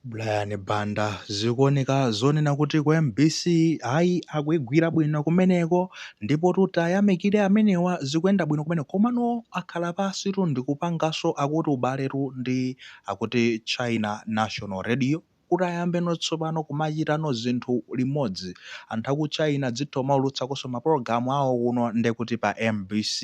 Brian Banda, Zikuoneka zonena kuti ku mbc ayi akuigwira bwino kumeneko ndipotu tiayamikire amenewa zikuyenda bwino kumeneko komano akhala pansitu ndikupanganso akuti ubaletu ndi akuti China National Radio kuti ayambeno tsopano kumachitano zinthu limodzi anthu aku China adzitha kumaulutsakonso mapulogalamu awo kuno ndekuti pa mbc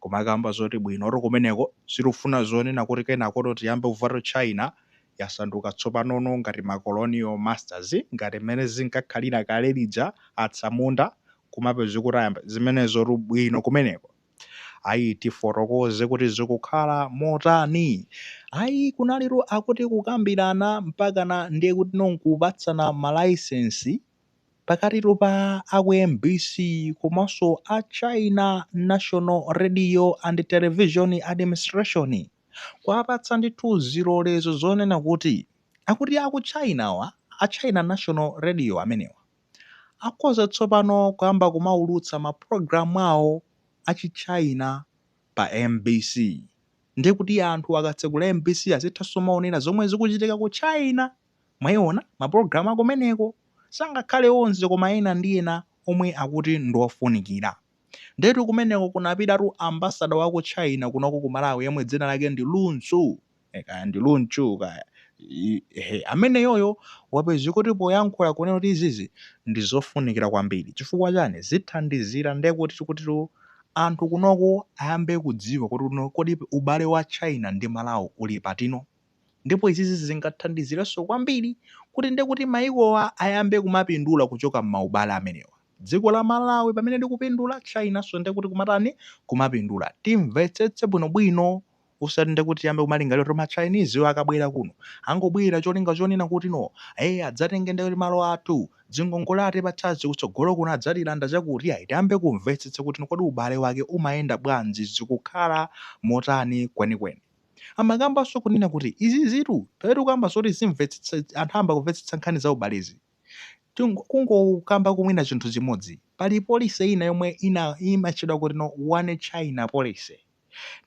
kumakamba zoti bwinotu kumeneko sitikufuna zonena kuti kenakotu tiyambe kumvatu China yasanduka tsopanono ngati ma colonial masters ngati mmene zinkakhalira kale lija atsamunda kumapezeka kuti ayamba zimenezotu bwino kumeneko ayi tifotokoze kuti zikukhala motani ayi kunalitu akuti kukambirana mpakana ndiye kuti nonkupatsana malaisensi pakatitu pa aku mbc komanso a china national radio and television administration kuwapatsa ndithu zilolezo zonena kuti akuti aku China wa a China National Radio amenewa akhoza tsopano kuyamba kumaulutsa mapulogalamu awo a chi China pa mbc ndiye kuti anthu akatsegula mbc azithanso kumaonera zomwe zikuchitika ku China mwaiona mapulogalamu akumeneko sangakhale onse koma ena ndi ena omwe akuti ndi ofunikira Ndiyetu kumeneko kunapitatu ambassador wa ku China kunoko ku Malawi yemwe dzina lake ndi Lu Xu. Eh, kaya ndi Lu Xu kaya. I- Ehe, ameneyoyo wapezeka kuti poyankhula kunena kuti izizi ndi zofunikira kwambiri. Chifukwa chani? Zithandizira ndiye kuti tikutitu anthu kunoko ayambe kudziwa kuti no kodi ubale wa China ndi Malawi uli patino. Ndipo izizi zingathandizirenso kwambiri kuti ndiye kuti mayikowa ayambe kumapindula kuchoka m'maubale amenewa. Dziko la Malawi pamene likupindula, Chinanso ndekuti kumatani? Kumapindula. Timvetsetse bwinobwino. Osati ndekuti tiyambe kumalingalira kuti ma Chinesewa akabwera kuno, angobwera cholinga chonena kuti no, eh, adzatenge ndekuti malo athu, zingongole atipatsazi kutsogolo kuno adzatilanda chakuti iyayi. Tiyambe kumvetsetsa kuti no kodi ubale wake umayenda bwanji, zikukhala motani kwenikweni. Amakambanso kunena kuti izizitu, pamene tikukamba zoti timvetsetse, anthu ayamba kumvetsetsa nkhani za ubalezi. Kungokambako mwina chinthu chimodzi, pali policy ina yomwe imatchedwa kuti no one China policy.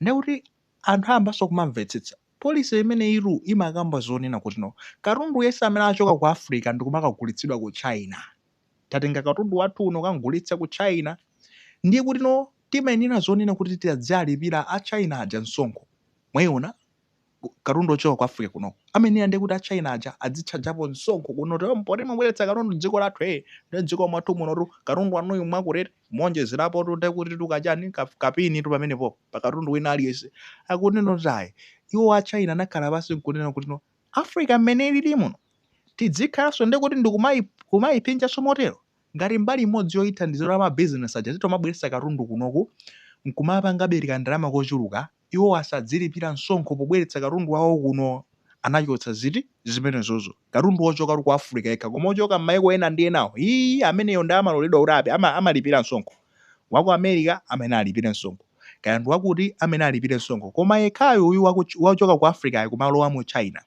Ndiye kuti anthu ayambanso kumamvetsetsa. Policy imeneyitu imakamba zonena kuti no katundu yense amene achoka ku Africa ndikumakagulitsidwa ku China, tatenga katundu wathu uno kamgulitsa ku China, ndiye kuti no timayenera zonena kuti tidzialipira a China aja msonkho. Mwaiona? katundu ochoka ku Africa kuno ameneya ndiye kuti a China aja adzitchajapo msonkho kuno kuti "Oh, poti mwabweretsa katundu dziko lathu eh ndi dziko mwathu munotu katundu wanuyu mwakuti muonjezerapo tu ndiye kuti tikachani ka- kapeni tu pamenepo pa katundu wina aliyense akunena kuti ayi iwo a China anakhala pansi nkunena kuti no Africa mmene ilili muno tidzikhalanso ndiye kuti ndikumayi kumayipinjanso motero ngati mbali imodzi yoyithandizira mabizinesi aja titomabweretsa katundu kunoku nkumapangabe kandalama kochuluka Iwo asadzilipira msonkho pobweretsa katundu wawo kuno. Anachotsa ziti? Zimenezozo. Katundu wochoka tu ku Africa yekha. Koma wochoka m'maiko ena ndi enawo, hii, ameneyo ndiye amaloledwa kuti api, ama, amalipira msonkho. Wa ku America amene alipire msonkho. Kaya ndi wakuti amene alipire msonkho. Koma yekhayo uyu wa ku, wochoka ku Africa'yu komalowa mu China,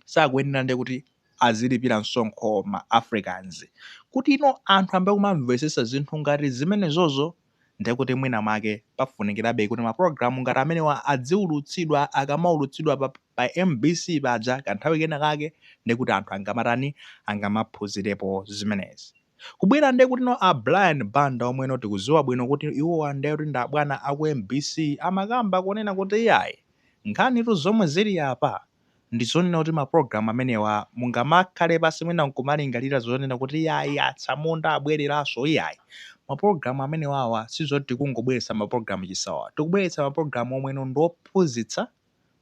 sakuyenera ndiye kuti azilipira msonkho ma Africans. Kutino anthu ambe kumamvetsetsa zinthu ngati zimenezozo. ndiye kuti mwinamwake pafunikirabe kuti mapulogalamu ngati amenewa adziulutsidwa. Akamaulutsidwa pa pa mbc paja kanthawi kenakake ndiye kuti anthu angamatani, angamaphunzirepo zimenezi. Kubwera ndiye kutino a Brian Banda omweno tikudziwa bwino kuti iwowa ndiye kuti ndi abwana a ku mbc amakamba kunena kuti iyayi, nkhanitu zomwe zili apa, Ndi zonena kuti mapulogalamu amenewa mungamakhale pansi mwina nkumalingalira zonena kuti iyayi atsamunda abwereranso iyayi. Mapulogalamu amenewawa sizoti tikungobweretsa mapulogalamu chisawawa. Tikubweretsa mapulogalamu omweno ndi ophunzitsa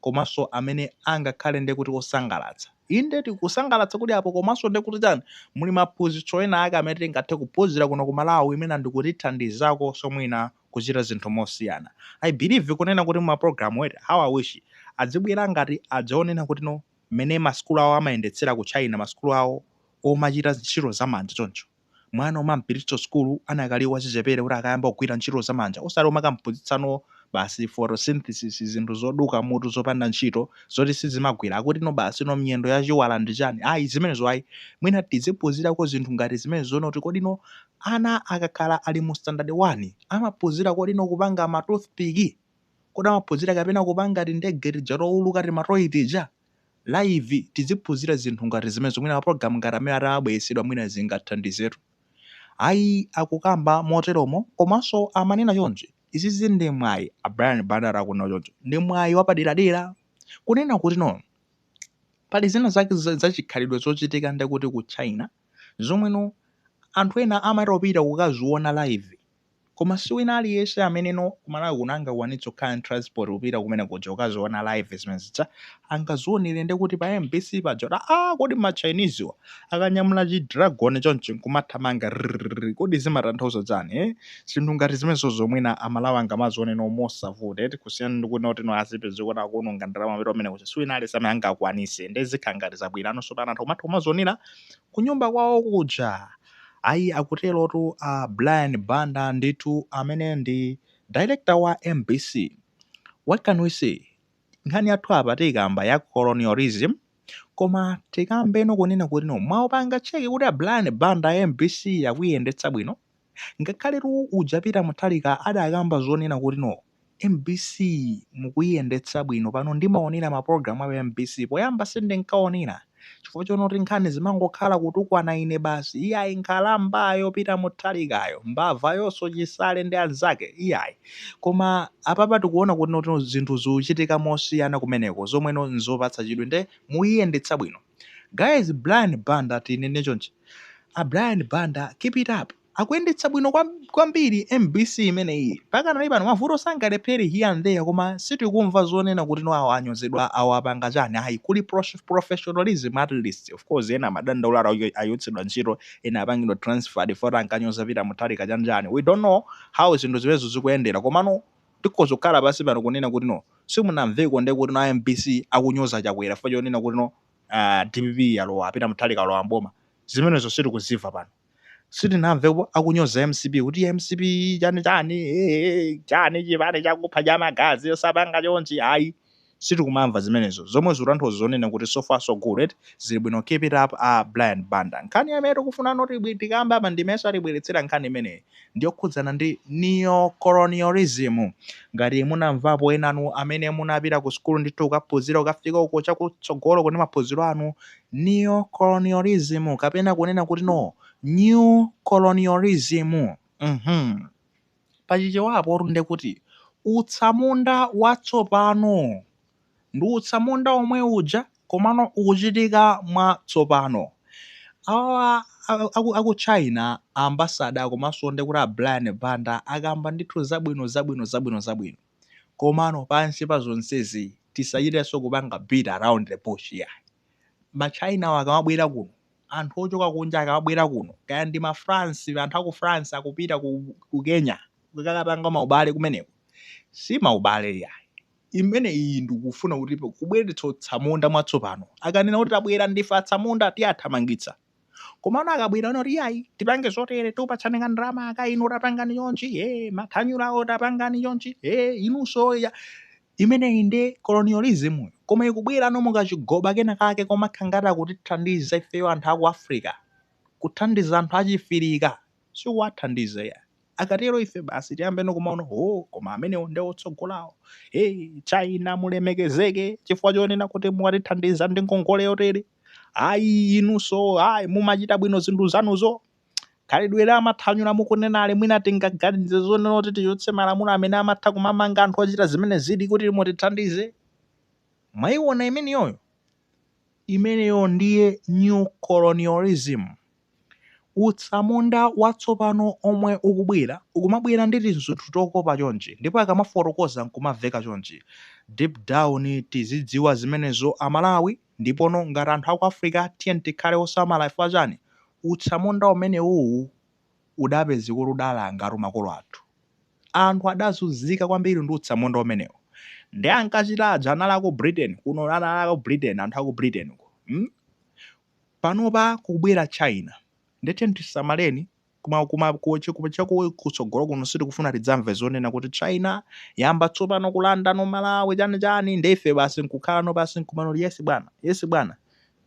komanso amene angakhale ndiye kuti osangalatsa. Inde tikusangalatsa kuli apo komanso ndiye kuti tani muli maphunzitso ena ake amene tingathe kuphunzira kuno ku Malawi mwina ndikutithandizakonso mwina kuchita zinthu mosiyana i believe kunena kuti ma program wait how i wish adzibwera ngati adzaonena kuti no mmene ma sukulu awo amayendetsera ku china ma sukulu awo omachita ntchito za manja choncho mwana umampititsa sukulu anakali wachichepere kuti akayambe kugwira ntchito za manja osati umakamphunzitsa no basi photosynthesis zinthu zoduka mutu zopanda ntchito zoti sizimagwira akuti no basi no miyendo ya chiwala ndi chani ayi zimenezo ayi mwina tiziphunzirako zinthu ngati zimenezo nkuti kodi no Ana akakhala ali mu standard 1 amaphunzira kodi no kupanga ma toothpick? Kodi amaphunzira kapena kupanga tindege tija touluka tima toy tija? Live tiziphunzira zinthu ngati zimenezo mwina mapulogalamu ngati amene atamabweretsedwa mwina zingathandizetu. Ayi akukamba moteromo komanso amanena chonchi. Izizi ndi mwayi a Brian Banda akunena choncho ndi mwayi wapaderadera kunena kuti no pali zina zake zachikhalidwe zochitika ndekuti ku China, zomweno anthu ena amatha kupita kukaziona live koma si wina aliyense ameneno ku Malawi kuno angakwanitse kukhala ndi transport kupita kumene kuja kukaziona live zimene zija angazionere ndi kuti pa MBC paja kuti ah kodi ma Chinese wa akanyamula chi dragon chonchi nkumathamanga rrrr, kodi zimatanthauza chani eh? zinthu ngati zimenezo zomwe no amalawi angamazione no mosavuta eti kusiyana ndi kuti noti no azipeze kuti akuononga ndalama mapita kumene kuja si wina aliyense amene angakwanitse nde zikhala ngati zabwerano so pano anthu kumatha kumazionera kunyumba kwawo kuja. Ayi akuterotu a Brian Banda ndithu amene ndi Director wa mbc. What can we say? Nkhani yathu apa tiyikamba ya colonialism koma tikambeno kunena kuti no mwawapanga check kuti a Brian Banda mbc akuyiyendetsa bwino? Ngakhaletu uja Peter Mutharika adakamba zonena kuti no, mbc mukuyiyendetsa bwino pano ndimaonera ma program a pa mbc poyamba sindinkaonera chifukwa chonoti nkhani zimangokhala kutukwana ine basi iyayi nkhalambayo Peter Mutharikayo mbavayonso Chisale ndi anzake iyayi koma apapa tikuona kuti no zinthu zikuchitika mosiyana kumeneko zomwe no nzopatsa chidwi nde mukuyiyendetsa bwino. Guys Brian Banda tinene chonchi a Brian Banda keep it up akuyendetsa bwino kwam- kwambiri mbc imeneyi pakanali pano mavuto sangalephere here and there koma sitikumva zonena kuti no awa anyozedwa awa apanga chani ayi kuli prof- professionalism at least of course ena amadandaula acho- achotsedwa ntchito ena apangidwa transferred poti ankanyoza pita mutharika chani chani we don't know how zinthu zimenezo zikuyendera komano Tikhoza kukhala pansi pano kunena kuti no simunamveko nde kuti no a mbc akunyoza Chakwera chifukwa chonena kuti no aah dpp yalowa a Peter Mutharika alowa m'boma. Zimenezo sitikuzimva pano. Sitinamvepo akunyoza mcp kuti yaa mcp chani chani eeh chani chipani chakupha chamagazi osapanga chonchi ayii. sitikumamva zimenezo zomwe zikutanthauza zonena kuti so far so good eti, zili bwino keep it up a Brian Banda. Nkhani amene tikufuna noti tikambe apa ndimenso atibweletsera nkhani imeneyi ndiyokhudzana ndi Neo-Colonialism. Ngati munamvapo enanu amene munapita ku sukulu ndithu kukaphunzira kukafika uko chakutsogoloko ndi maphunziro anu, Neo-Colonialism kapena kunena kuti no, New Colonialism, mmh. Pa Chichewa apotu ndiye kuti utsamunda watsopano. Ndi utsamunda womwe uja komano ukuchitika mwa tsopano. Awawa aku aku China a ambassador komanso ndi kuti a Brian Banda akamba ndithu zabwino zabwino zabwino zabwino. Komano pansi pa zonsezi tisachitenso kupanga beat around the bush iyayi. ma China wa akamabwera kuno, anthu ochoka kunja akamabwera kuno, kaya ndi ma France, anthu aku France akupita ku, ku Kenya kukakapanga maubale kumeneko, si maubale yayi imeneyi ndi kufuna kuti kubweretsa utsamunda mwatsopano. Akanena kuti tabwera ndife atsamunda, tiathamangitsa. komano akabwerano kuti yayi tipange zotere tikupatsani ka ndalama aka inu tapangani chonchi e mathanyulawo tapangani chonchi e inunso ya imeneyi ndi colonialism. koma ikubwerano mukachigoba kena kake komakhala ngati akutithandiza ifeyo anthu aku africa kuthandiza anthu achifirika sikuwathandiza ya akatero ife basi tiyambeno kumaona o koma amenewo nde otsogolawo e china mulemekezeke chifukwa chonena kuti mwatithandiza ndi ngongole yotere ayi inunso ayi mumachita bwino zinthu zanuzo khalidwe la amathanyula mukunenali mwina tingaganize zonena kuti tichotse malamulo amene amatha kumamanga anthu ochita zimene zili kuti mutithandize mwayiona imeneyoyo imeneyo ndiyo new colonialism Utsamunda watsopano omwe ukubwera, ukumabwerera ndi tizinthu tokopa chonchi, ndipo akamafotokoza nkumamveka chonchi, deep down tizidziwa zimenezo a Malawi, ndipono ngati anthu aku Africa tiyeni tikhale osamala ifwa chani, utsamunda umenewuwu udapezeka kuti udalangatu makolo athu. Anthu adazunzika kwambiri ndi utsamunda umenewu, nde ankachita aja anali aku Britain, kuno anali aku Britain, anthu aku Britain uko, mm, Panopa kubwera China nde tiyeni tisamaleni koma chakutsogolo kuno sitikufuna tidzamve zonena kuti China yayamba tsopano kulandano Malawi chani chani nde ife basi nkukhalano pansi nkumangoti yes bwana yes bwana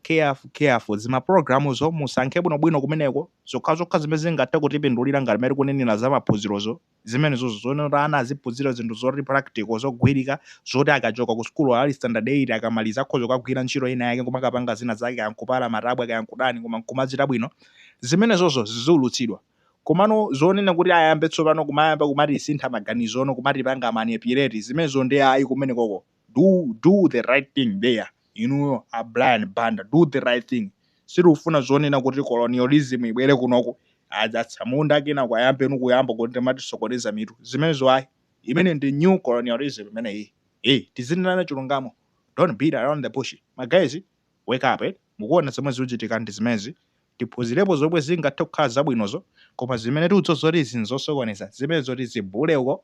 careful careful zimaprogramuzo musankhe bwinobwino kumeneko zokhazokha zimene zingathe kutipindulira ngati mmene tikunenera zamaphunzirozo zimenezozo zonena kuti ana aziphunzira zinthu zoti practical zogwirika zoti akachoka ku sukulu ali standard 8 akamaliza akhoza kukagwira ntchito ina yake nkumakapanga zina zake kaya nkupala matabwa kaya nkutani koma nkumachita bwino zimenezozo ziulutsidwe komano zonena kuti ayambe tsopano kumayamba kumatisintha maganizono kumatipanga manipulate zimenezo ndi ayi kumenekoko do do the right thing there inuyo a Brian Banda do the right thing sitikufuna zonena kuti colonialism ibwere kunoko atsamunda enaake ayambeno kuyamba kuti kumatisokoneza mitu zimenezo ayi imene ndi new colonialism imeneyi eh tizinenana chilungamo don't beat around the bush my guys wake up eh? mukuona zomwe zikuchitika ndi zimenezi tiphunzirepo zomwe zingathe kukhala zabwinozo koma zimene tiuzwe zoti izi nzosokoneza zimene zoti zibule uko